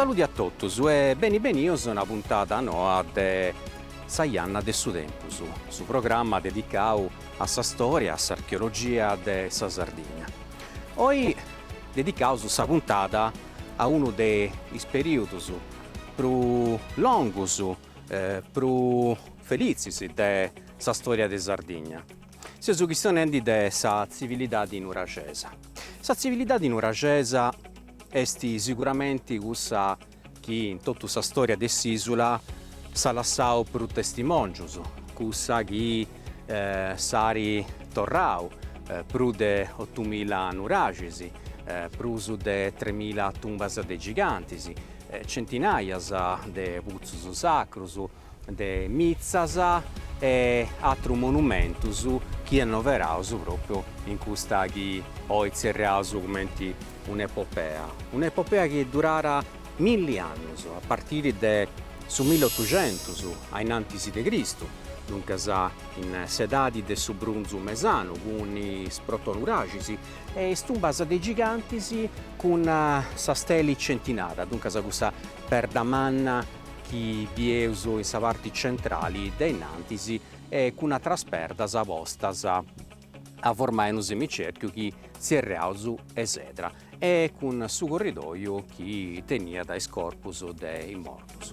Saludi a totus e beni benius a una puntada noa de Sa janna de su tempus, su programma dedicau a sa storia, a s'archeologia de sa Sardigna. Oi Dedicaus sa puntada a unu de is perìudus prus longus, prus felitzis de sa stòria de Sardigna. Seus chistionendi de sa tzivilidadi nuragesa. Sa tzivilidadi nuragesa est siguramenti cussa. chi in totu sa stòria de s'ìsula s'at lassau prus testimòngios, cussa chi s'at torrau prus de otumila nuraxis, prus de tremila tumbas de gigantis, centinàias de putzus sacrus, de mitzas e atrus monumentus chi annoveraus pròpriu in custa chi oi tzerriaus cumenti un'epopea, un'epopea chi duràt milli annus, a partiri de su milli otuxentus a innantis de Cristu, duncas in s'edadi de su brunzu mesanu, cun is protonuraxis e is tumbas de gigantis cun sa steli centinada, duncas cussa perda manna chi bieus in sa parti centrali de innantis e cun atras perdas postas a formai unu semicerchiu chi tzerriaus esedra e cun su corridòiu chi teniat is corpus de is mortus.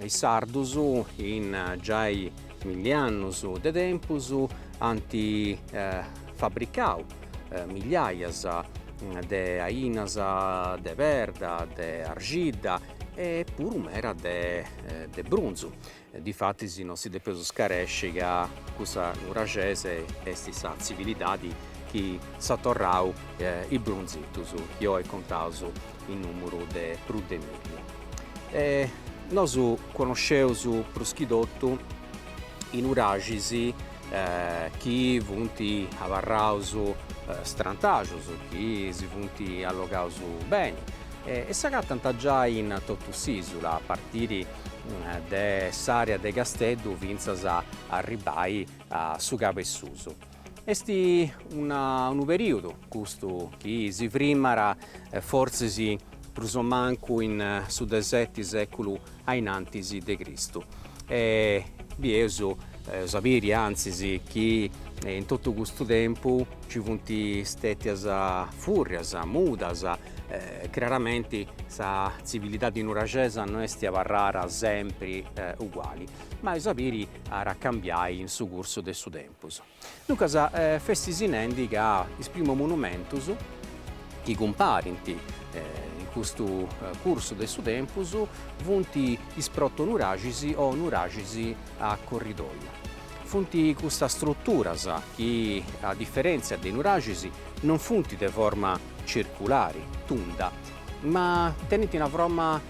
Is sardus in giai milli annus de tempus ant fabricau milliaias de ainas de perda, de arxidda e puru meda de brunzu. Difatis non si depeus scaresci ca cussa nuragesa est sa tzivilidadi chi s'at torrau is brunzetus chi oi contaus in nùmuru de prus de milli. Nosu conosceus prus chi totu is nuraxis chi funt abarraus strantaxus, chi si funt allogaus beni e s'agatant giai in totu s'ìsula, a partiri de s'àrea de Casteddu fintzas a arribbai a su Cabessusu. Est unu perìodu custu chi si frimmat a fortzis prus o mancu in su de seti sèculu a in antis de Cristu e bi eus a biri antzis chi in totu custu tempus nci funt stètias fùrrias, mudas, craramenti sa tzivilidadi nuraxesa no est chi abarrada sempri uguali ma eus a biri at a cambiai in su cursu de su tempus. Duncas festis nendi ca is primu monumentus chi cumparint in custu cursu de su tempus funt is protonuraxis o nuraxis a corridoiu. Funt custas struturas chi, a diferèntzia de is nuraxis, non funt de forma circulari, tunda, ma tenint una forma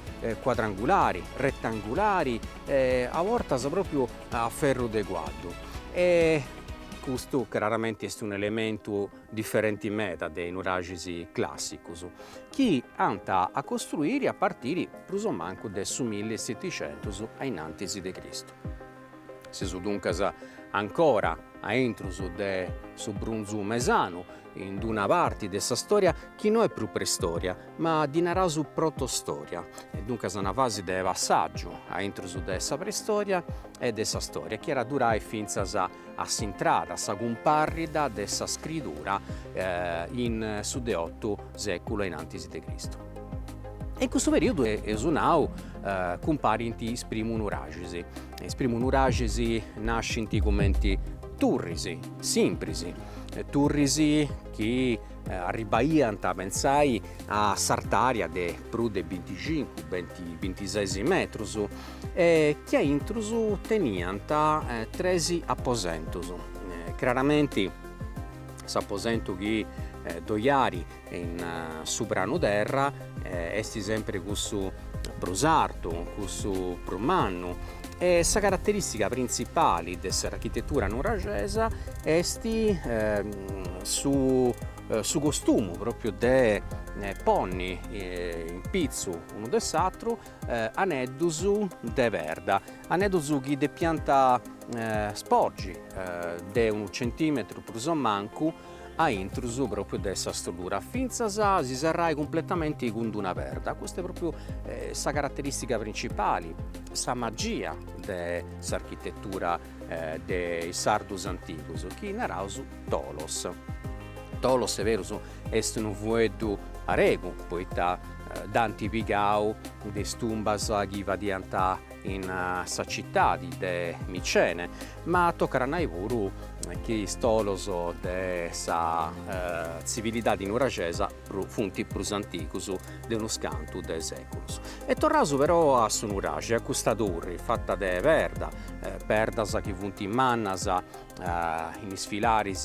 cuadrangulari, retangulari e a bortas pròpriu a ferru de cuaddu e custu craramente est un'elementu diferente meda de is nuraxis clàssicos chi ant a costruire a partire prus o mancu de su milli e seticentos a in antis de Cristu. Seus duncas ancora a intrus de su brunzu mesanu in d-una parti de sa storia chi no est prus preistoria, ma ddi naraus protostoria, e duncas una fasi de passàgiu a intrus de sa preistoria e de sa storia, chi at durai fintzas a s'intrada, a sa cumparrida de sa scridura in su de otu sèculu a in antis de Cristu. E in custu perìodu, eus nau, cumparint is primus nuraxis. Is primus nuraxis nascint cumenti turris simpris, turris chi arribaiant pentzai a s'artària de prus de binticincu bintises metrus e chi a intrus teniant tres aposentos craramenti s'aposentu chi ddoi at In su pranu terra est sempre cussu prus artu, cussu prus mannu e sa caraterìstica printzipale de s'architetura nuraxesa est su costumu pròpiu de ponni in pitzu unu de s'atru aneddus de perda, aneddus chi depiant sporgi de unu centìmetru prus o mancu a intrus propriu de sa strutura fintzas a si serrai cumpletamenti cun d-una perda, custa est propriu sa carateristica principali, sa magia de s'architetura de is sardus antigus chi naraus tolos. Tolos est berus est unu fueddu aregu poita dd'ant pigau de is tumbas chi fadiant in sa citadi de Micene, ma tocat a nai puru chi is tolos de sa tzivilidadi nuraxesa funt prus antigus de unus cantu de seculus. E torraus però a su nuraxi, a custa turri fata de perda, perdas chi funt mannas in is filaris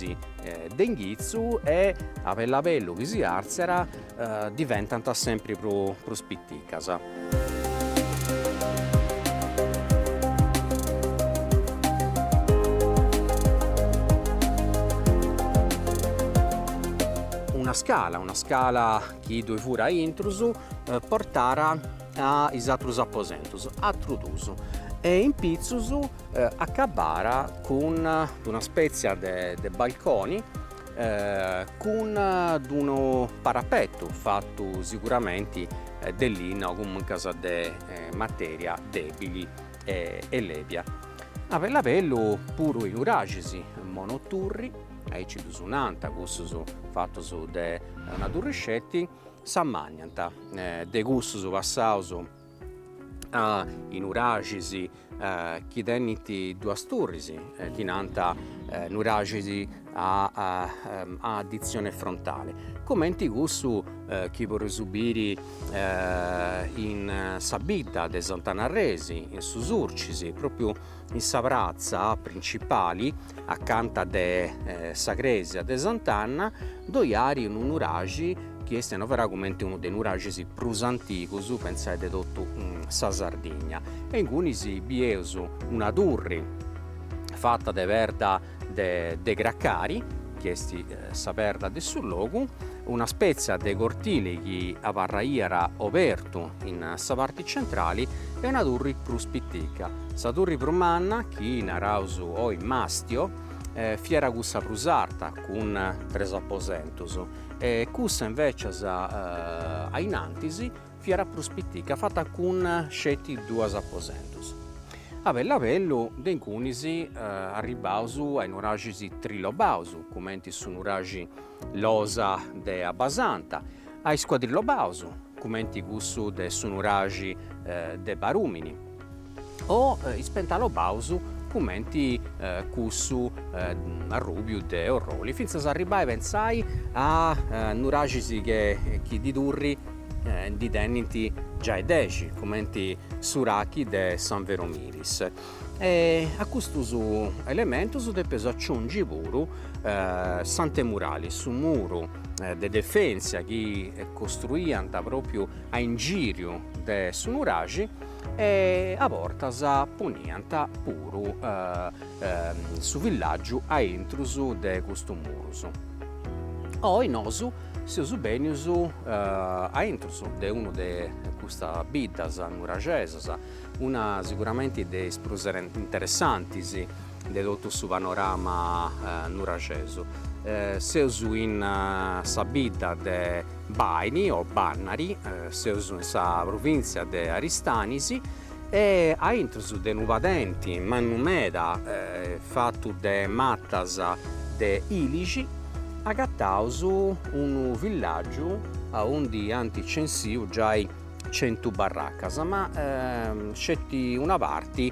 de inghitzu e a bellu a bellu chi si àrtziat diventant sempri prus piticas. Una scala, una scala chi ddoi fut a intrus portàt a is atrus aposentus, atrus dus e in pitzus acabàt cun d'una spètzia de balconi cun d'unu parapetu fatu siguramenti de linna o comuncas de matèria dèbili e lèbia. A bellu a bellu puru is nuraxis monoturri, aici ddus nant cussus fatus de una turri sceti, s'ammànniant de cussus passaus a nuraxis chi tenint duas turris chi nant nuraxis a addizione frontale comenti cussu chi podeus biri in sa bidda de Sant'Anarresi in su Surcis propriu in sa pratza principali acanta de sa crèsia de Sant'Anna ddoi at unu nuraxi chi est annoverau comenti unu de is nuraxis prus antigus pentzai de totu sa Sardigna e ingunis bieus una turri fata de perda de carcari, chi est sa perda de su logu, una spètzia de cortili chi abarraiat obertu in sa parti centrali e una turri prus pitica. Sa turri prus manna, chi naraus oi Mastio, fiat cussa prus arta cun tres aposentus e cussa invècias a innantis fiat prus pitica, fata cun sceti duus aposentus. A bellu a bellu de ingunis arribbaus a is nuraxis trilobaus, cumenti su nuraxi Losa de Abbasanta, a is cuadrilobaus, cumenti cussu de su nuraxi de Barumini, o is pentalobaus cumenti cussu Arrùbiu de Orroli, fintzas a arribbai pentzai a nuraxis chi de turris ndi tenint giai dexi, cumenti S'Urachi de San Vero Milis. E a custus elementus depeus aciungi puru s'antemurali, su muru de defentzia chi costruiant pròpriu a ingìriu de su nuraxi e a bortas poniant puru su villàgiu a intrus de custus murus. Oi nosu seus bènius a intrus de unu de custas biddas nuraxesas, una siguramenti de is prus interessantis de totu su panorama nuraxesu. Seus in sa bidda de Baini o Bannari, seus in sa provìntzia de Aristanis e a intrus de unu padenti mannu meda fatu de matas de ilixi agataus unu villàgiu aundi ant censìu giai centu barracas ma sceti una parti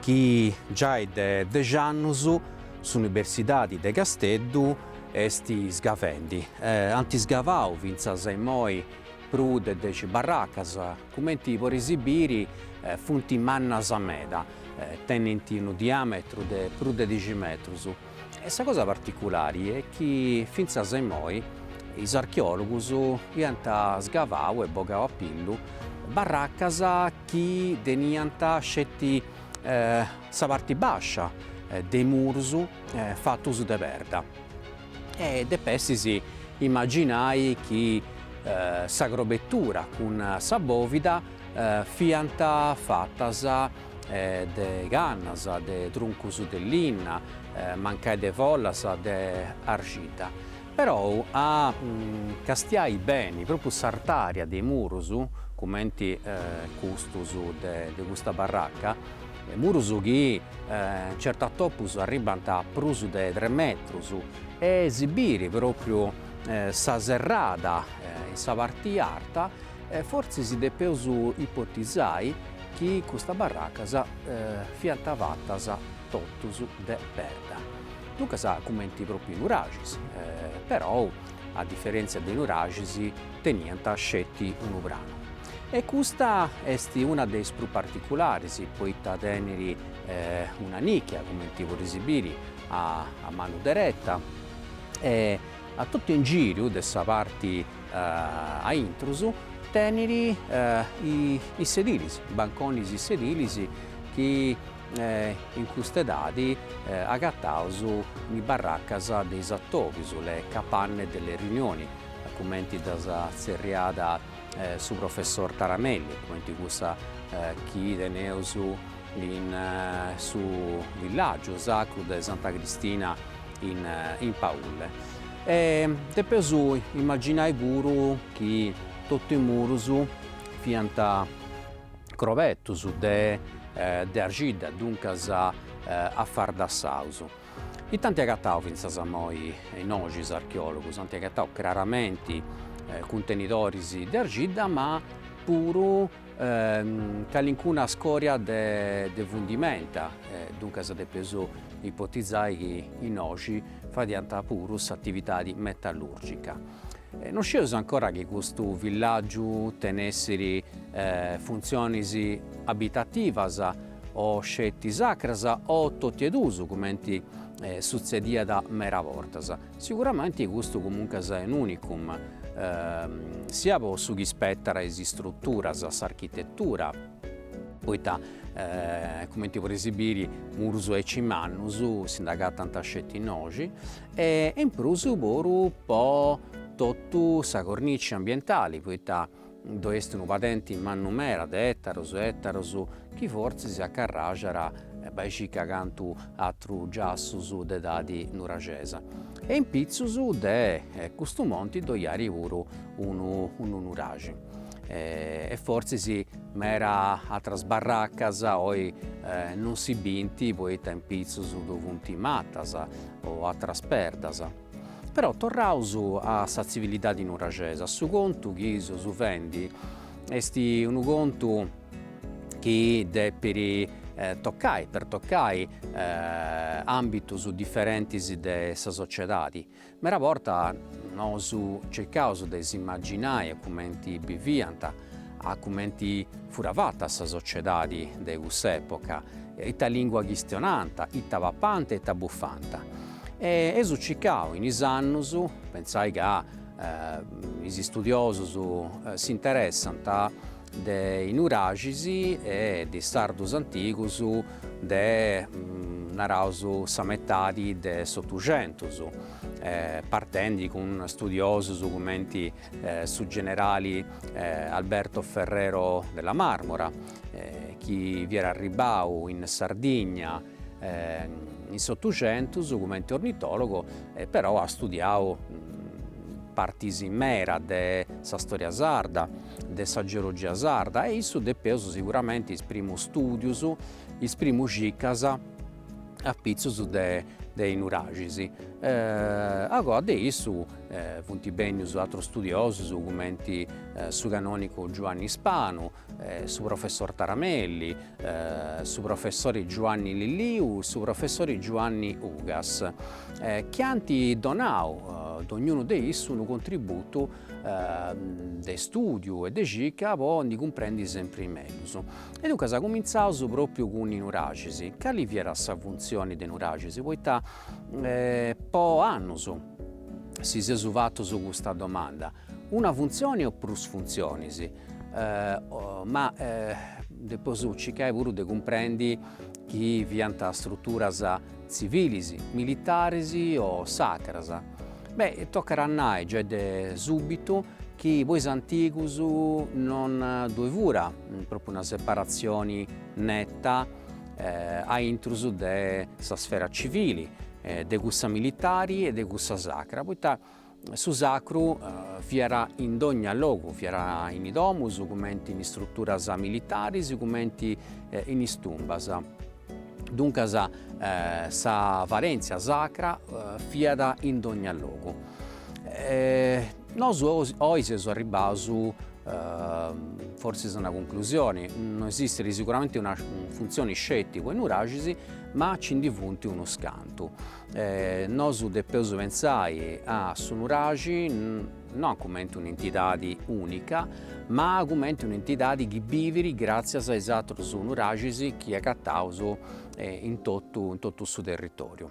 chi giai de dexi annus s'Universidadi de Casteddu est sgavendi, ant sgavau fintzas a immoi prus de dexi barracas, cumenti podeis biri funt mannas meda, tenint unu diàmetru de prus de dexi metrus, E sa cosa particulari est chi fintzas a immoi is archeòlogus iant sgavau e bogau a pillu barracas chi teniant sceti sa parti bàscia de is murus fatus de perda. E depestis imaginai chi sa crobetura cun sa bòvida fiant fatas de cannas, de truncus de linna, mancai de follas de argidda, perou a castiai beni propriu s'artària de is murus, cumenti custus de custa barraca, murus chi certas bortas arribant a prus de tres metrus, e si biri propriu sa serrada in sa parti arta E fortzis depeus ipotizai chi custas barracas fiant fatas totus de perda. Duncas cumenti propriu nuraxis, perou a diferèntzia de is nuraxis teniant sceti unu pranu. E custa est una de is prus particularis poita tenit una nichia cumenti podeis biri a manu dereta e a totu ingìriu de sa parti a intrus tenit is sedilis, banconis e sedilis chi in custa edadi agataus in is barracas de is atòbius, le capanne delle riunioni, cumenti ddas tzerriàt su professor Taramelli, cumenti cussa chi teneus in su villàgiu sacru de Santa Cristina in Paulle. E depeus imaginai puru chi totu is murus fiant crobetus de de arxidda, duncas afardassaus. Ita ant agatau fintzas a moi innoxi is archeologus? Ant agatau craramenti cuntenidoris de arxidda ma puru calincuna scòria de fundimenta, duncas depios ipotizai chi innoxi fadiant puru s'atividadi metallùrgica. Non scieus ancora chi custu villàgiu tenessit funtzionis abitativas o sceti sacras o totu e duus cumenti sutzediat meda bortas. Siguramenti custu comuncas est un'unicum, sia po su chi spetat a is istruturas, a s'architetura, poita cumenti podeis biri murus aici mannus si nd'agatant sceti innoxi, e in prus puru po totu sa cornici ambientali, poita Ddo est unu padenti mannu meda de ettaros e ettaros chi fortzis acarraxat bai e cica cantu atrus giassus de edadi nuraxesa e in pitzus de custu monti ddoi iat puru unu unu nuraxi e fortzis meda atras barraccas oi non si binti poita in pitzus ddo funti mattas o atras perdas. Però torraus a sa tzivilidadi nuraxesa, su contu chi seus fendi est unu contu chi depit tocai, pertocai ambitus diferentis de sa sociedadi, meda bortas nosu circaus de s'imaginai a cumenti biviant, a cumenti fut fata sa sociedadi de cuss'epoca, ita lingua chistionànt, ita papànt e ita bufànt. Eus cicau in is annus, pensai ca is istudiosus s'interessant de is nuraxis e de is sardus antigus de naraus sa metadi de s'otuxentus, partendi cun studiosus cumenti su generali Alberto Ferrero della Marmora chi fiat arribbau in Sardigna in s'Otuxentus cumenti ornitòlogu però at studiau partis meras de sa storia sarda, de sa geologia sarda e a issu depeus siguramenti is primus stùdius, is primas cicas apitzus de is nuraxis. A goa de issu funt bènnius atrus studiosus cumenti su canònigu Giuanni Spanu su professor Taramelli, su professori Giuanni Lilliu, su professori Giuanni Ugas, chi ant donau dognunu de issu unu contributu de istùdiu e de circa po ndi cumprendi sempri mellus. E duncas cumintzaus propriu cun is Nuraxis. Cali fiat sa funtzioni de is Nuraxis? Poita po annus si seus fatus custa domanda. Una funtzioni o prus funtzionis? ma depeus circai puru de cumprendi chi fiant struturas tzivilis, militaris o sacras. Beh tocat a nai giai de subitu chi po is antigus non ddoi fura propriu una separazioni netta aintru de sa sfera civili, de cussa militari e de cussa sacra, poita Su sacru fiat in dogna logu, fiat in is domus, cumenti in is struturas militaris, cumenti in is tumbas. Duncas sa valèntzia sacra fiat in dogna logu. Nosu oi seus arribbaus forsis a una cunclusioni, no esistit sicuramente una funtzioni sceti po is nuraxis, ma nci ndi funt unus cantu. Nosu depeus pentzai a su Nuraxi no cumenti un'entidadi unica, ma cumenti un'entidadi chi bivit gratzias a is àterus Nuraxis chi agataus in totu in totu su territoriu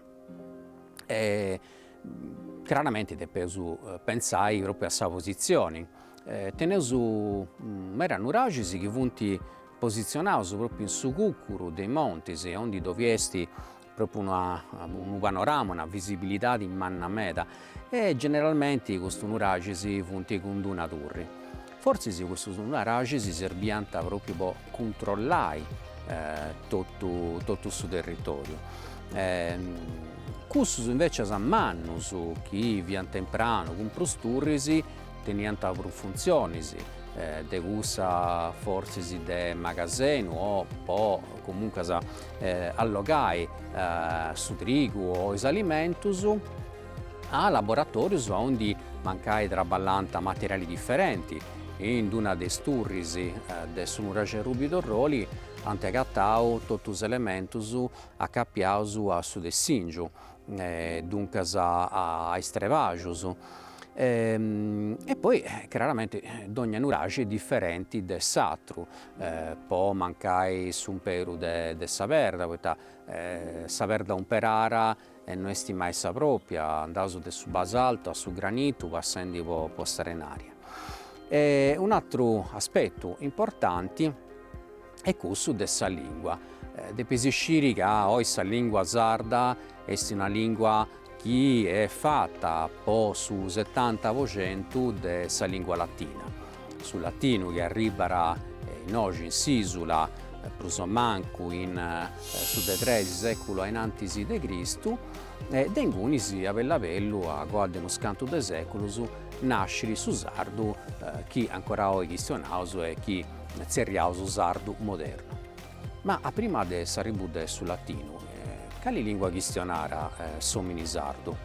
e craramenti depeus pentzai propriu a sa positzioni. Teneus meda Nuraxis chi funt positzionaus propriu in su cucuru de is montis aundi ddoi est Propriu una unu panorama, una visibilidade manna meda e generalmenti custus nuraxis funt cun d-una turri. Fortzis custus nuraxis serbiant propriu po cuntrollai totu totu su territoriu. Cussus invècias mannus chi fiant in pranu cun prus turris teniant prus funtzionis de cussa fortzis de magasenu o po comuncas allogai su trigu o is alimentus a laboratorius aundi mancai traballant materiali diferenti. In una de is turris de su nuraxi Arrùbiu de Orroli ant agatau totu is elementus acapiaus a su tessìngiu, duncas a is trebàxus e poi craramenti dònnia nuraxi diferenti de s'atru po mancai s'umperu de sa perda, poita sa perda umperara e no est mai sa propria, andaus de su basaltu a su granitu passendi po s'arenaria. Un'atru aspetu importanti est cussu de sa lingua, depeis isciri ca oi sa lingua sarda est una lingua chi est fata po su setanta po centu de sa lìngua latina. Su latinu chi arribara innoxi in s'ìsula, prus o mancu in su de tres sèculus ainantis de Cristu, de ingunis a bellu a bellu a coa de unus cantu de sèculus nascit su sardu chi ancora oi chistionaus e chi tzerriaus sardu modernu. Ma a prima de s'arribu de su latinu, cali lingua chistionara s'omini sardu?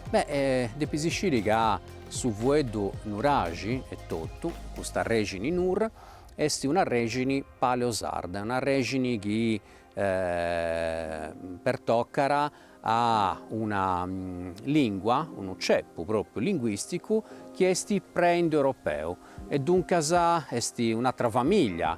Beh, depis isciri ca su fueddu nuraxi etotu, custa rexini nur, esti una rexini paleosarda, una rexini chi pertocara a una lingua, unu ceppu propriu linguisticu chi esti pre-indoeuropeu e duncas esti un'atra familia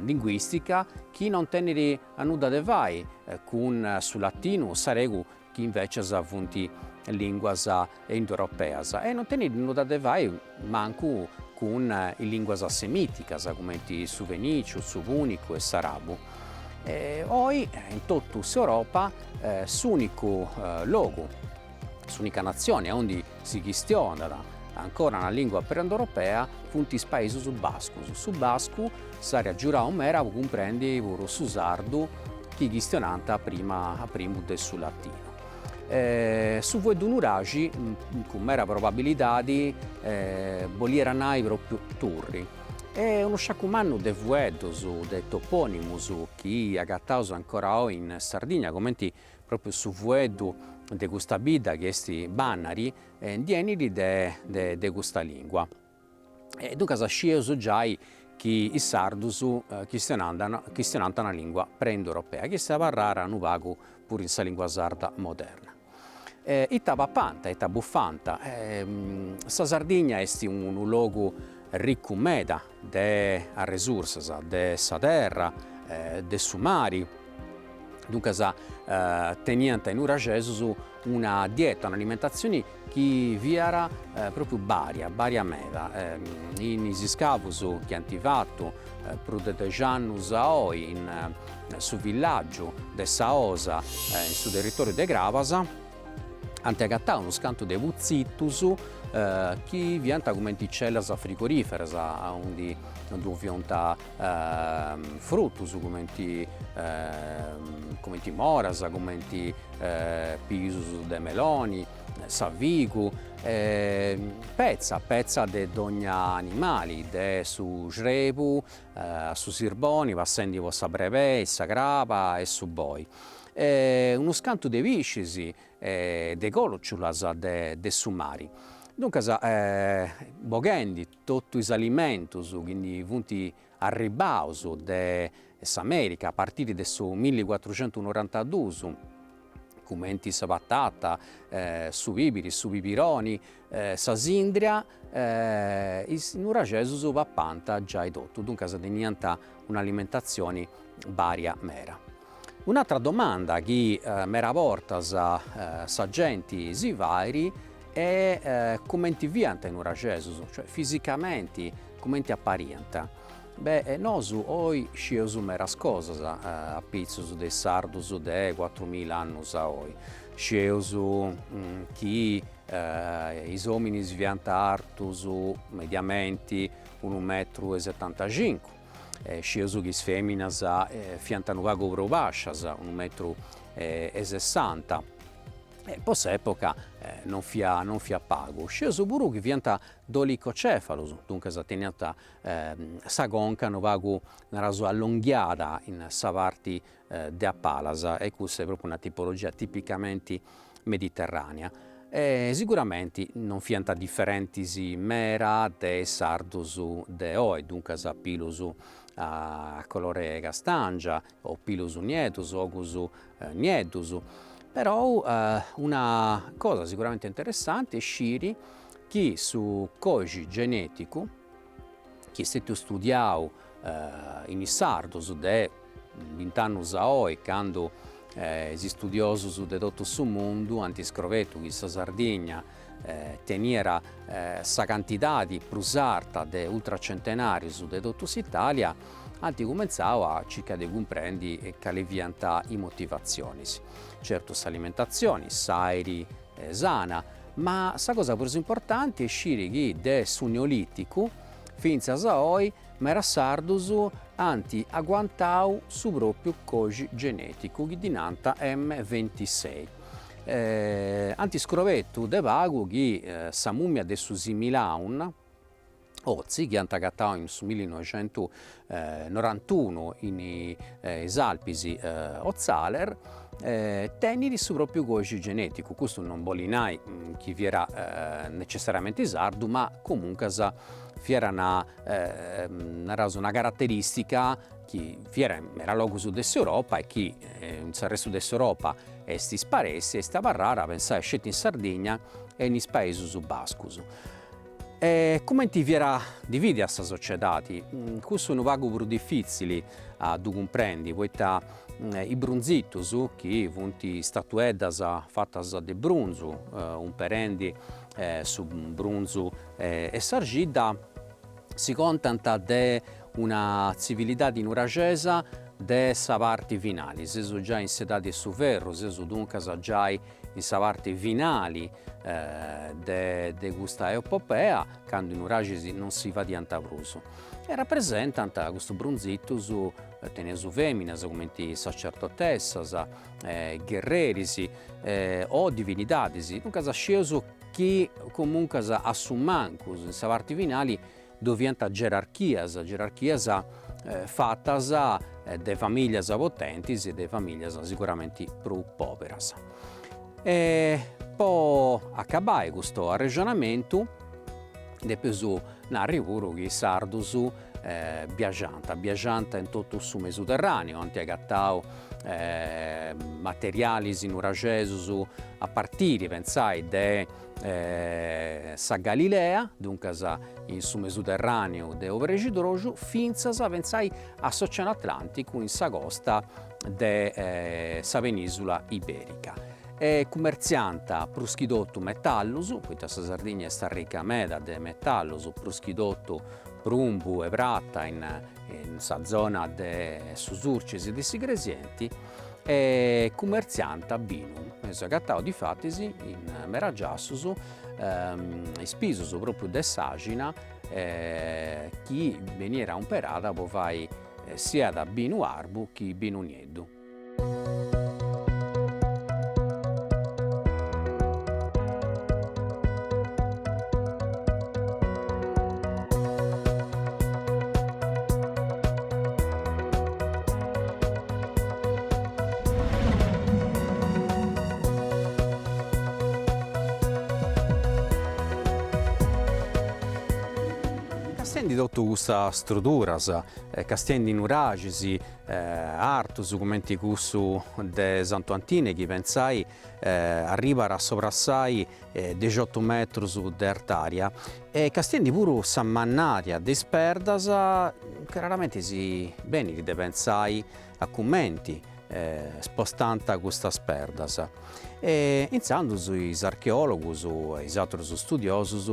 linguìstica chi non tenit nudda de fai cun su latinu o s'aregu chi invècias funt lìnguas indoeuropeas e non tenit nudda de fai mancu cun is lìnguas semìticas cumenti su fenìciu, su pùnicu e s'arabu. Oi in totu s'Europa s'ùnicu logu S'unica natzione aundi si chistionat ancora una lìngua pre-indoeuropea funt is paisus bascus. Su bascu s'iat a agiurai meda po cumprendi puru su sardu chi chistionant a primu de su latinu. Su fueddu nuraxi cun meda probabilidadi bolliat nai pròpriu turri e unu sciacu mannu de fueddus, de topònimus chi agataus ancora oi in Sardigna, cumenti Pròpriu su fueddu de custa bidda chi est Bannari ndi 'enit de custa lìngua. E duncas scieus giai chi is sardus chistionant una lìngua pre-indoeuropea chi est abarrara unu pagu puru in sa lìngua sarda moderna. Ita papant, ita bufant, sa Sardigna est unu logu ricu meda de arresursas de sa terra e de su mari, duncas teniant is nuraxesus una dieta, un'alimentatzione chi fiat pròpriu baria, baria meda, in is iscavus chi ant fatu prus de dexi annus a oi in su villàgiu de sa Osa in su territòriu de Crabas ant agatau unus cantus de putzitus chi fiant cumenti cellas frigoriferas aundi ddu fiant frutus cumenti cumenti moras cumenti pisus de meloni sa figu e petza petza de dogna animali de su crebu a su sirboni passendi po sa brebei sa craba e su boi E unus cantus de piscis e de còciulas de su mari. Duncas boghendi totu is alimentos chi ndi funt arribaus de s'Amèrica a partiri de su milli cuatrucentu norantaduus, cumenti sa patata, su pìbiri, su pibironi, sa sindria is nuraxesus papànt giai totu, duncas teniant un'alimentatzioni bària mera. Un'atra domanda chi mera bortas sa genti si fait est cumenti fiant is nuraxesus, cioè fisicamenti cumenti apariant. Beh nosu oi scieus meras cosas apitzus de is sardus de cuatrumila annus a oi, scieus chi Is òminis fiant artus mediamenti unu metru e setantaxincu, e scieus chi is fèminas fiant unu pagu prus bàscias, unu metru e sessanta, e po s'època non fiat non fiat pagu. Scieus puru chi fiant dolicocefalus, duncas teniant sa conca unu pagu, naràus, allonghiada in sa parti de a palas e custa est propriu una tipologia tipicamenti mediterranea e siguramenti non fiant differentis mera de is sardus de oi, duncas pilus a colore castangia o pilus nieddus ogus nieddus, però una cosa siguramenti interessanti est sciri chi su coxi geneticu chi est stetiu studiau in is sardus de bint'annus a oi candu is istudiosus de totu su mundu ant scrobetu chi sa Sardigna teniat sa cantidadi prus arta de ultracentenarius de totu s'Italia, ant cumentzau a circai de cumprendi cali fiant is motivatzionis. Certu s'alimentatzioni, s'airi sana, ma sa cosa prus importanti est sciri chi de su Neolìticu fintzas a oi meras sardus ant aguantau su pròpriu coxi genèticu chi ddi nant M ventisei. Ant iscrobetu de pagu chi sa mùmia de su Similaun, Ozi chi ant agatadu in su millinoixentunorantunu in is Alpis Otztaler tenit su propriu còdixi geneticu, custu non bolit nai chi fiat necessariamente sardu ma comuncas fiat naraus una carateristica chi fiat in meda logus de s'Europa e chi in s'arrestu de s'Europa est isparèssia e est abarrada pensai sceti in Sardigna e in is Paesus Bascus E cumenti fiat dividia sa sociedadi, cussu unu pagu prus difìtzili a ddu cumprendi, poita is brunzitus, chi funt statueddas fatas de brunzu, umperendi su brunzu e s'arxidda, si contant de una tzivilidadi nuraxesa de sa parti finali, seus giai in s'edadi 'e su ferru, seus duncas giai in sa parti finali de custa epopea candu is nuraxis non si fadiant prus e rapresentant custus brunzitus teneus feminas comenti sacerdotessas gherreris o divinidadis duncas scieus chi comuncas a su mancus in sa parti finali Ddoe fiant gerarchias, gerarchias fatas de familias potentis e de familias siguramenti prus poberas. E po acabai custu arrexonamentu depius narri puru chi is sardus biaxànt, biaxànt in totu su Mesuterraneu, ant agatau materialis nuraxesus a partiri pentzai de sa Galilea, duncas in su Mesuterràneu de obrexidroxu fintzas pentzai a s'Oceanu Atlànticu in sa costa de sa penìsula ibèrica. Cumertziànt prus chi totu metallus, poita sa Sardigna est arrica meda de metallus, prus chi totu prumbu e prata in sa zona de su Surcis e de s'Igresienti, e cumertziànt binu, eus agatau difatis in mera giassus is pisus propriu de s'àxina chi beniat umperada po fai siat binu arbu chi binu nieddu. Castiendi totu custas struduras, castiendi nuraxis artus cumenti cussu de Santu Antine chi, pentzai arribat a sobrepassai dexiotu metrus de artària e castiendi puru sa mannària de is perdas, craramenti si benit de pentzai a cumenti spostànt custas perdas e intzandus is archeologus e is atrus studiosus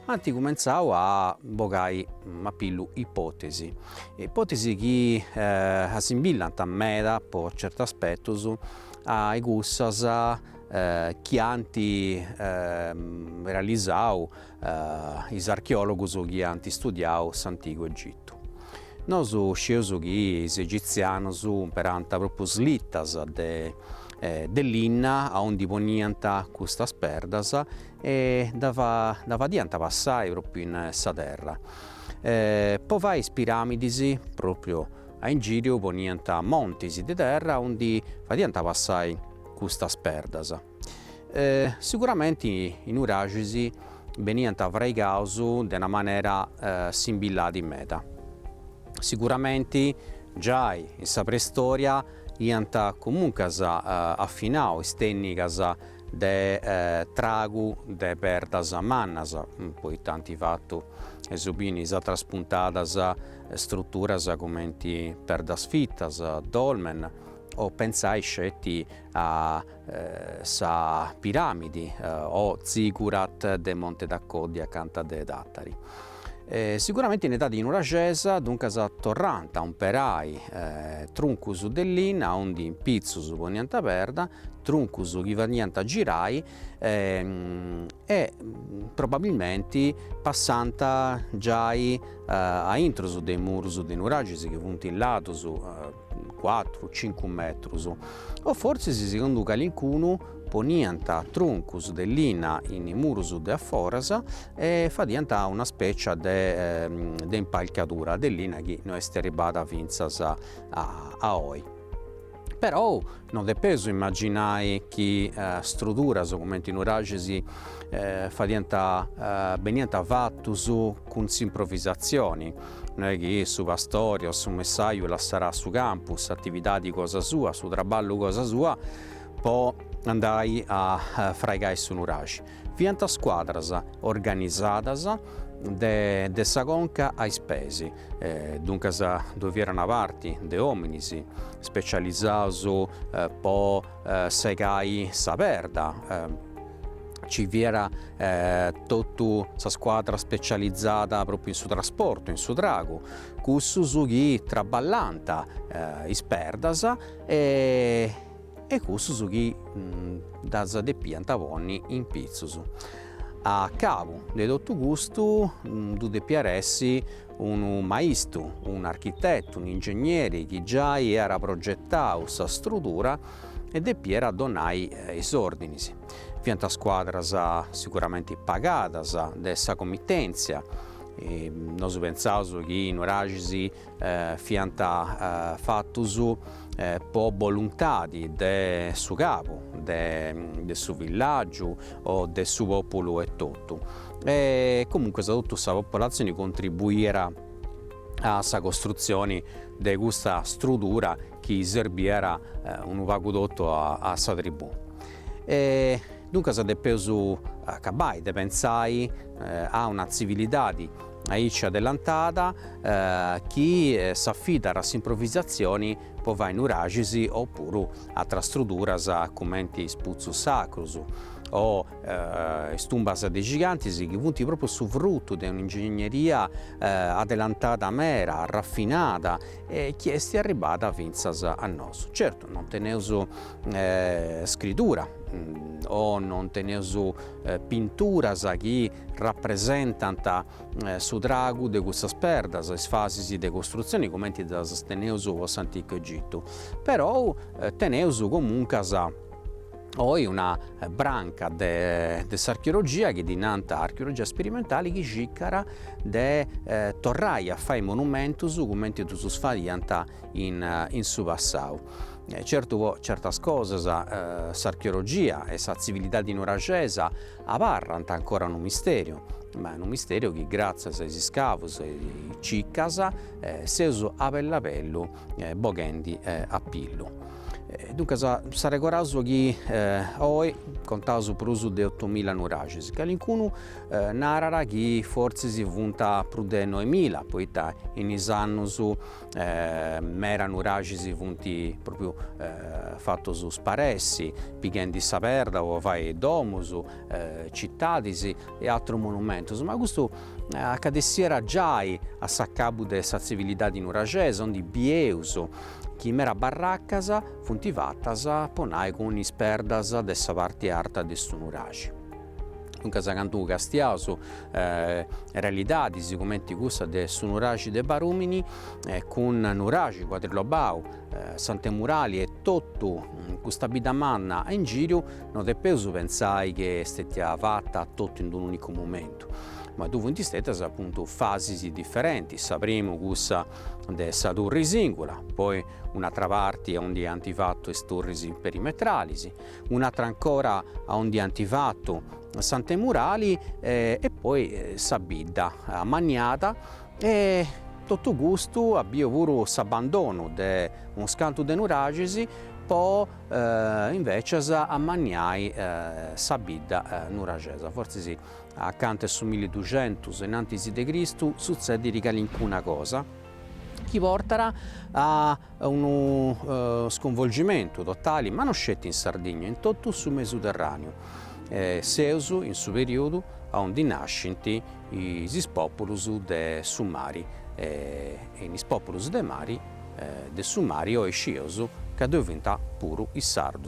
ant cumentzau a bogai a pillu ipotesi, ipotesi chi assimbillant meda po certus aspettus a i cussas chi ant realisau is archeòlogus chi ant istudiau s'Antigu Egitu. Nosu sceus chi is egitzianus imperànt propriu slittas de linna a undi poniant custas perdas e ddas fadiant passai propriu in sa terra po fai is piramidis propriu A in gìriu poniant montis de terra undi fadiant passai custas perdas. Siguramenti is nuraxis beniant fraigaus de una manera simbillanti meda. Siguramenti giai in sa preistòria iant comuncas afinau is tènnigas de tragu de perdas mannas, poita ant fatu, eus biu in is atras puntadas struturas cumenti perdas fitas, dolmen, o pentzais sceti a sa piramidi o zigurat de Monte d'Acoddi, acanta de Tàtari. Siguramenti in edadi nuraxesa duncas torrànt a umperai truncus de linna aundi in pitzus poniant perda, truncus chi fadiant girai e probabilmenti passànt giai a intrus de is murus de is nuraxis chi funt ladus cuatru cincu metrus o forsis segundu calincunu poniant truncus de linna in is murus de a foras e fadiant una specia de impalcadura de linna chi no est arribada finzas a oi però Non depeus imaginai chi struduras cumenti is nuraxis fadiant beniant fatus cun s'improvisatzioni, no est chi su pastori o su messaju lassàt su campu, s'atividadi cosa sua, su traballu cosa sua po andai a fraigai su nuraxi. Fiant scuadras organizadas de sa conca a is peis, duncas ddoe fiat una parti de ominis specializaus po segai sa perda, ci fiat totu sa scuadra specializada propriu in su trasportu, in su tragu, cussus chi traballànt is perdas e e cussos chi ddas depiant ponni in pitzus. A cabu de totu custu ddu depiat essi unu maistru, un'architetu, un'ingegneri chi giai iat progetau sa strudura e depiat donai is ordinis. Fiant scuadras siguramenti pagadas de sa comitenzia, nosu pentzaus chi no fiant fatus po boluntadi de su cabu de su villàgiu o de su pòpulu etotu e comunque sa totu sa populatzioni contribuiat a sa costrutzioni de custa strudura chi serbiat unu pagu totu a sa tribù. E duncas depeus acabbai de pentzai a una tzivilidadi Aici adellantada chi s'afidat a s'improvvisatzioni po fai nuraxis opuru atras struduras cumenti is putzus sacrus o is tumbas de gigantis chi funt pròpriu su frutu de un'ingegneria adelantada meda, rafinada e chi est arribbada fintzas a nosu. Certu non teneus scritura o non teneus pinturas chi rapresentant su tragu de cussas perdas, is fases de costrutzione cumenti ddas teneus po s'Anticu Egitu, perou teneus comuncas oi una branca de s'archeologia chi ddi nant archeologia sperimentale chi cicat de torrai a fai monumentus cumenti ddus faiant in su passau. Certu certas cosas s'archeologia e sa tzivilidadi nuraxesa Abarrant ancora unu misteriu, ma unu misteriu chi gràtzias a is iscavus e is cicas seus a bellu a bellu boghendi a pillu. Duncas s'arregoraus chi oi contaus prus de otumila nuraxis, calincunu narat chi fortzis funt prus de noemila, poita in is annus mera nuraxis funt propriu fatus sparessi pighendi sa perda po fai domus, cittadis e atterus monumentus, ma custu accadessiat giai a s'accabbu de sa zivilidadi nuraxesa ondi bieus chi mera barraccas funt fattas po nai cun is perdas de sa parti arta de su nuraxi. Duncas cantu castiaus realidadis cumenti cussa de su nuraxi de Barumini cun nuraxi cuadrilobau, s'antemurali e totu custa bidda manna a in giru no depeus pentzai chi est stètia fata totu in d'un'unicu momentu, ma ddu funt stetias apuntu fasis diferentis, sa primu cussa de sa turri singula, poi un'atra parti aundi ant fatu is turris perimetralis, un'atra ancora a ondi anti fatu s'antemurali e poi sa bidda amanniada e totu custu at biu puru s'abbandonu de unus cantu de nuraxis po invecias amanniai sa bidda nuraxesa, fortzis acanta 'e su miliduxentus in antis de Cristu sutzediri calincuna cosa, chi portat a unu sconvolgimentu totali, ma no sceti in Sardigna, in totu su Mesuterràneu, seus in su perìodu aundi nascint is pòpulus de su mari, e in is pòpulus de mari, de su mari, oi scieus ca ddoi fint puru is sardus.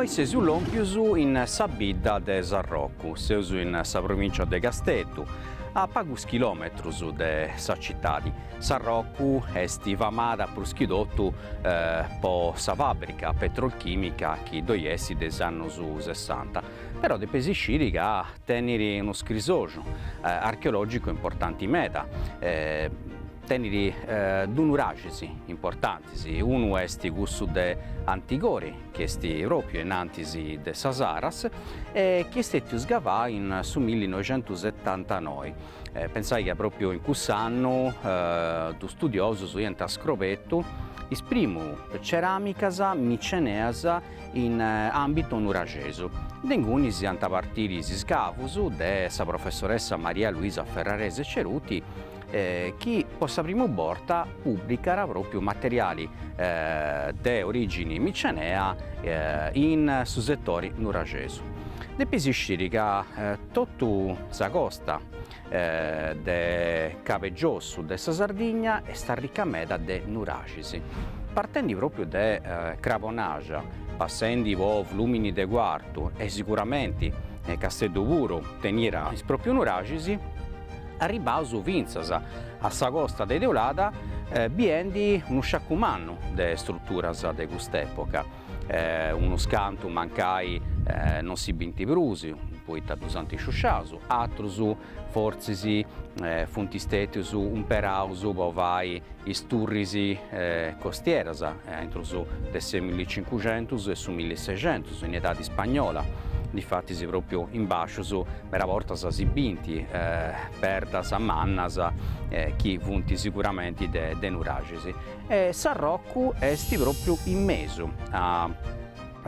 Oi seus lòmpius in sa bidda de Sarrocu, seus in sa provìncia de Casteddu, a pagus chilòmetrus de sa citadi. Sarrocu est famada prus chi totu po sa fàbrica petrolchìmica chi ddoi est de is annus sessanta. Però depeis isciri ca teniri unu scrixoxu archeologicu importanti meda, teniri duus nuraxis importantis, unu est cussu de Antigori chi est pròpiu in antis de sa Saras e chi est stètiu scavau in su millinoixentusetantanoi, pensai ca pròpiu in cuss'annu duus studiosus iant scrobetu is primu ceramicas miceneas in àmbitu nuraxesu. De inguni ant a partiri is iscavos de sa professoressa Maria Luisa Ferrarese Ceruti chi po sa primu borta pùblicat pròpiu materiali de orìgine micenea in su setore nuraxesu. Depeis isciri ca totu sa costa de Cabu 'e Giossu de sa Sardigna est arrica meda de nuraxis. Partendi pròpiu de Crabonaxa, passendi po Flùmini de Cuartu e siguramenti Casteddu puru teniat is pròpiu nuraxis, arribaus fintzas a sa costa de Teulada biendi unu sciacu mannu de struturas de cust'època. E unos cantu mancai non si bint prus, poita ddus ant sciusciaus, atrus fortzis funt stètius umperaus po fai is turris costieras intrus de su millicincuxentus e su millisexentus, in edadi spagnola, difatis pròpriu in bàscius meda bortas si bint perdas mannas chi funt siguramenti de nuraxis. Sarrocu est pròpriu in mesu a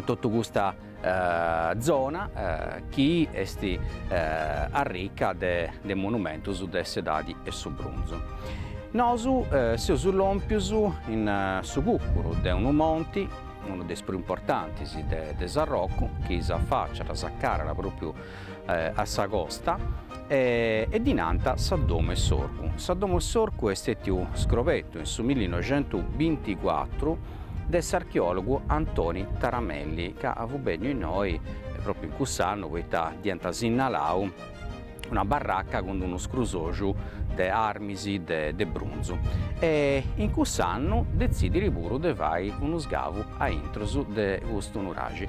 totu custa zona chi est arrica de monumentus de s'edadi 'e su brunzu. Nosu seus lòmpios in su cùcuru de unu monti, unu de is prus importantis de Sarrocu, chi s'afàciat, s'acarat pròpriu a sa costa e ddi nant sa Domo 'e s'Orcu. Sa Domo 'e s'Orcu est stètiu scrobetu in su millinoxentubinticuatru de s'archeòlogu Antoni Taramelli, ca fut bènniu innoi pròpriu in cuss'annu poita dd'iant sinnalau una barraca cun unu scrusoxu de armis de brunzu e in cuss'annu detzidit puru de fai unu sgavu a intrus de custu nuraxi.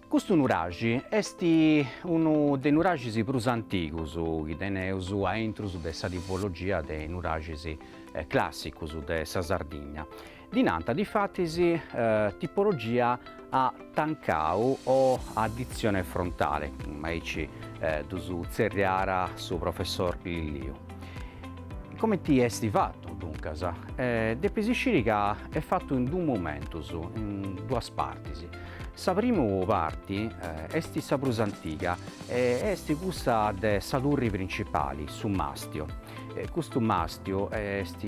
Custu nuraxi est unu de is nuraxis prus antigus chi teneus a intrus de sa tipologia de nuraxis clàssicus de sa Sardigna. Ddi nant difatis tipologia a tancau o a aditzione frontale, aici ddus tzerriat su professor Lilliu. Comenti est fatu, duncas? Depis sciri ca est fatu in duus momentus, in duas partis. Sa primu parti est sa prus antiga e est cussa de sa turri principali, su màstiu. Custu màstiu est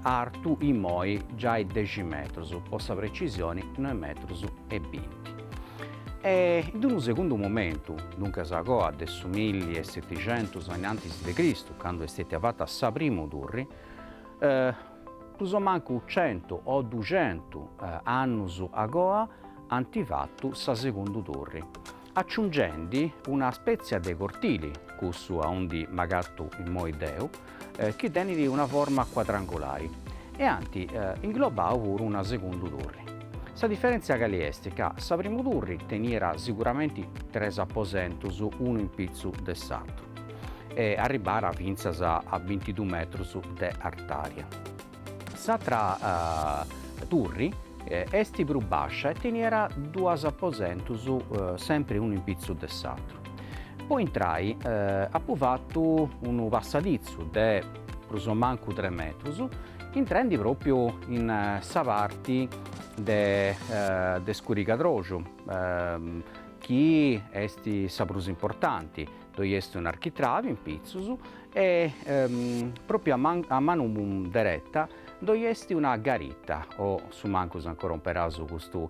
artu immoi giai dexi metrus, po sa precisioni noe metrus e binti. E in unu segundu momentu, duncas a coa de su milli e seticentus a innantis de Cristu, candu est stètia fata sa primu turri, prus o mancu centu o duxentu annus agoa ant fatu sa segundu turri, aciungendi una spètzia de cortili, cussu aundi m'agatu immoi deu, chi tenit una forma cuadrangulari, e ant inglobau puru una segundu turri. Sa diferèntzia cali est ca sa primu turri teniat siguramenti tres aposentus unu in pitzu de s'atru. e arribara fintzas a bintidu metrus de artària. S'atra turri est prus bàscia e teniera duas aposentus sempri unu in pitzus de s'atru. Po intrai apu fatu unu passaditzu de prus o mancu tres metrus, intrendi pròpiu in sa parti de scurigadroxu chi est sa prus importanti, Ddoi est un'architravi in pitzus e, pròpiu a a manu dereta, ddoi est una garita o su mancus ancora umperaus custu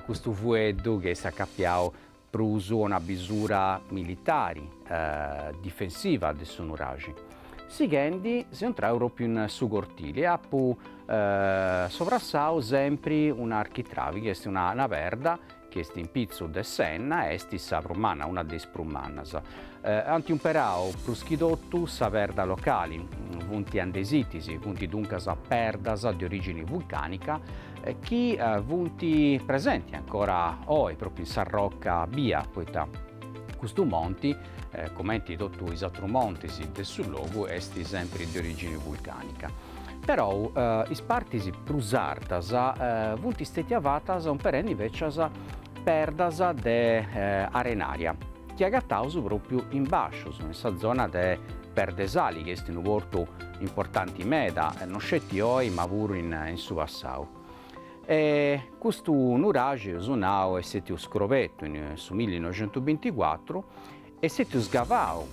custu fueddu chi est acapiau prus a una bisura militari, difensiva de su nuraxi. Sighendi seu intrau pròpiu in su cortili e apu sobrassau sempri un'architravi chi est una perda chi est in pitzu de s'enna, est sa prus manna, una de is prus mannas. Ant umperau prus chi totu sa perda locali, funt andesitis, funt duncas perdas de orìgini vulcànica chi funt presenti ancora oi, pròpriu in sa roca bia, poita custu monti, cumenti totu is atrus montis de su logu, est sempri de orìgini vulcànica. perou is partis prus artas funt stètias fatas umperendi invècias perdas de arenària chi agataus pròpiu in bàscius, in sa zona de Perd'e Sali, chi est unu portu importanti meda, no sceti oi ma puru in su passau. E custu nuraxi, eus nau, est stètiu scrobetu in su millinoixentusbinticuatru Est stètiu sgavau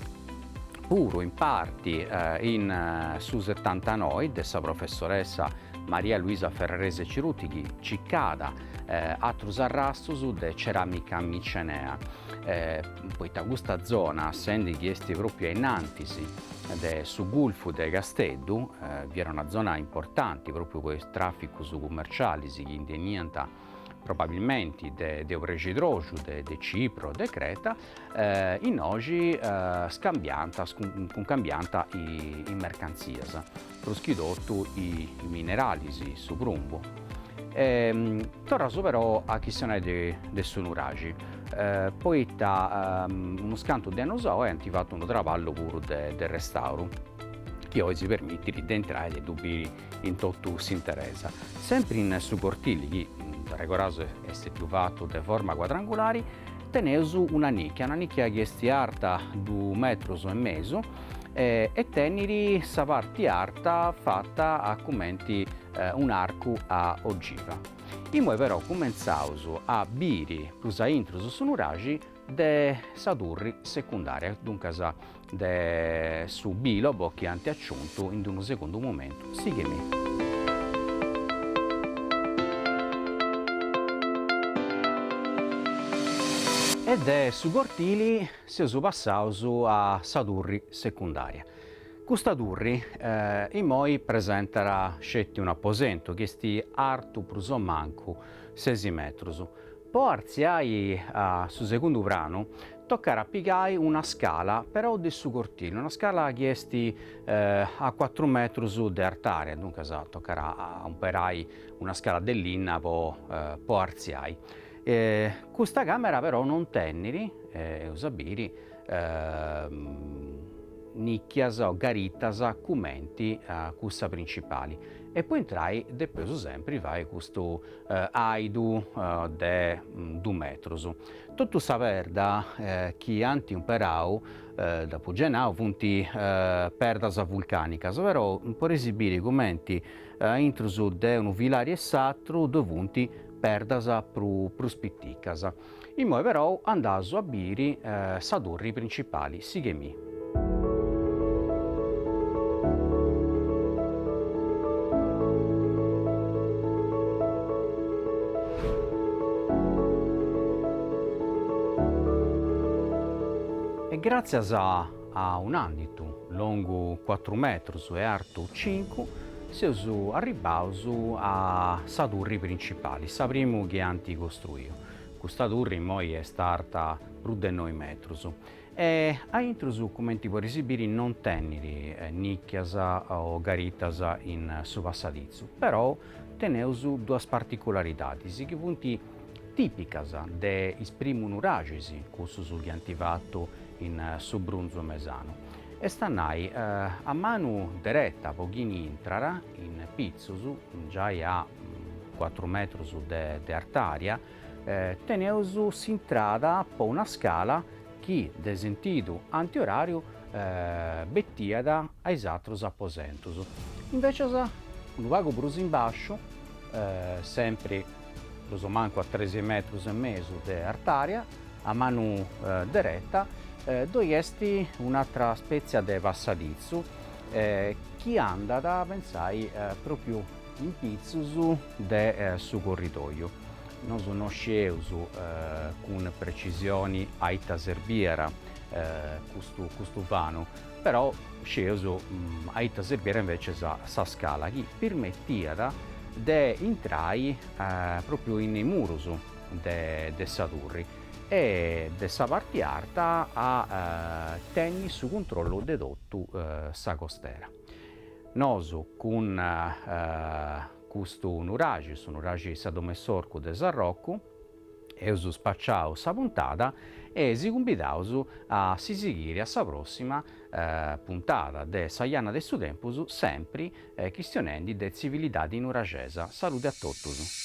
puru in parti in su setantanoi de sa professoressa Maria Luisa Ferrarese Ceruti chi cicada atrus arrastus de ceramica micenea, poita custa zona, sendi chi est propriu ainnantis de su gulfu de Casteddu, fiat una zona importanti propriu po is traficus cummercialis chi ndi 'eniant probabilmenti de de obrescidroxu, de de Cipro, de Creta, innoxi scambiant cuncambiant is mercantzias, prus chi totu is mineralis, su prumbu. Torraus però a chistionai de su nuraxi, poita unus cantus de annus a oi ant fatu unu traballu puru de restauru chi oi si permitit de intrai e ddu biri in totu s'interesa, sempri in su cortili chi, dd'arregordaus, est stètiu fatu de forma cuadrangulari, teneus una nìchia, una nìchia chi est arta du metrus e mesu e tenit sa parti arta fata a cumenti un'arcu a ogiva. Imoi però cumentzaus a biri prus a intrus su nuraxi de sa turri secundària, duncas de su bìlobo chi ant aciuntu in unu segundu momentu. Sighemi. E de su cortili seus passaus a sa turri secundària. Custa turri imoi presentat sceti un'aposentu chi est artu prus o mancu sesi metrus. Po artziai a su segundu pranu tocat a pigai una scala però de su cortili, una scala chi est a cuatru metrus de artària, duncas tocat a umperai una scala de linna po artziai. Custa càmera però non tenit, eus a biri, nìcchias o garitas cumenti a cussa principali e po intrai depeus sempri fai custu àidu de dus metrus. Totu sa perda chi ant umperau, dd'apu giai nau, funt perdas vulcànicas, però poreis biri cumenti a intrus de unu filari e s'atru ddoe funt perdas prus piticas. Imoi però andaus a biri sa turri principali, sighemi. E gràtzias A un'ànditu longu cuatru metrus e artu cincu, seus arribbaus a sa turri principali, sa primu chi ant costruiu. Custa turri imoi est arta prus de noi metrus e a intrus, cumenti poreis biri, non tenit nìcchias o garitas in su passaditzu, però teneus duas particularidadis chi funt Tìpicas de is primu nuraxis, cussus chi ant fatu in su brunzu mesanu, est a nai, a manu dereta po chini intrat, in pitzus, giai a cuatru metrus de artària, teneus s'intrada po una scala chi, de sentidu antioràriu, betiat a is atrus aposentus. Invècias, unu pagu prus in bàsciu, sempri prus o mancu a tres metrus e mesu de artària, a manu dereta ddoi est un'atra spètzia de passaditzu chi andat, pensai, pròpiu in pitzus de su corridòiu. Nosu no scieus cun precisioni a ita serbierat custu vanu, Però sceus a ita serbiat invece sa sa scala chi pirmetiat de intrai propriu in is murus de de sa turri e de sa parti arta a tenni su cuntrollu de totu sa costera. Nosu cun custu nuraxi, su nuraxi sa dom'e s'orcu de Sarrocu, Eus spaciau sa puntada e si cumbidaus a si sighiri a sa prossima puntada de Sa Janna de su Tempus sempri chistionendi de tzivilidadi nuraxesa. Salude a totus.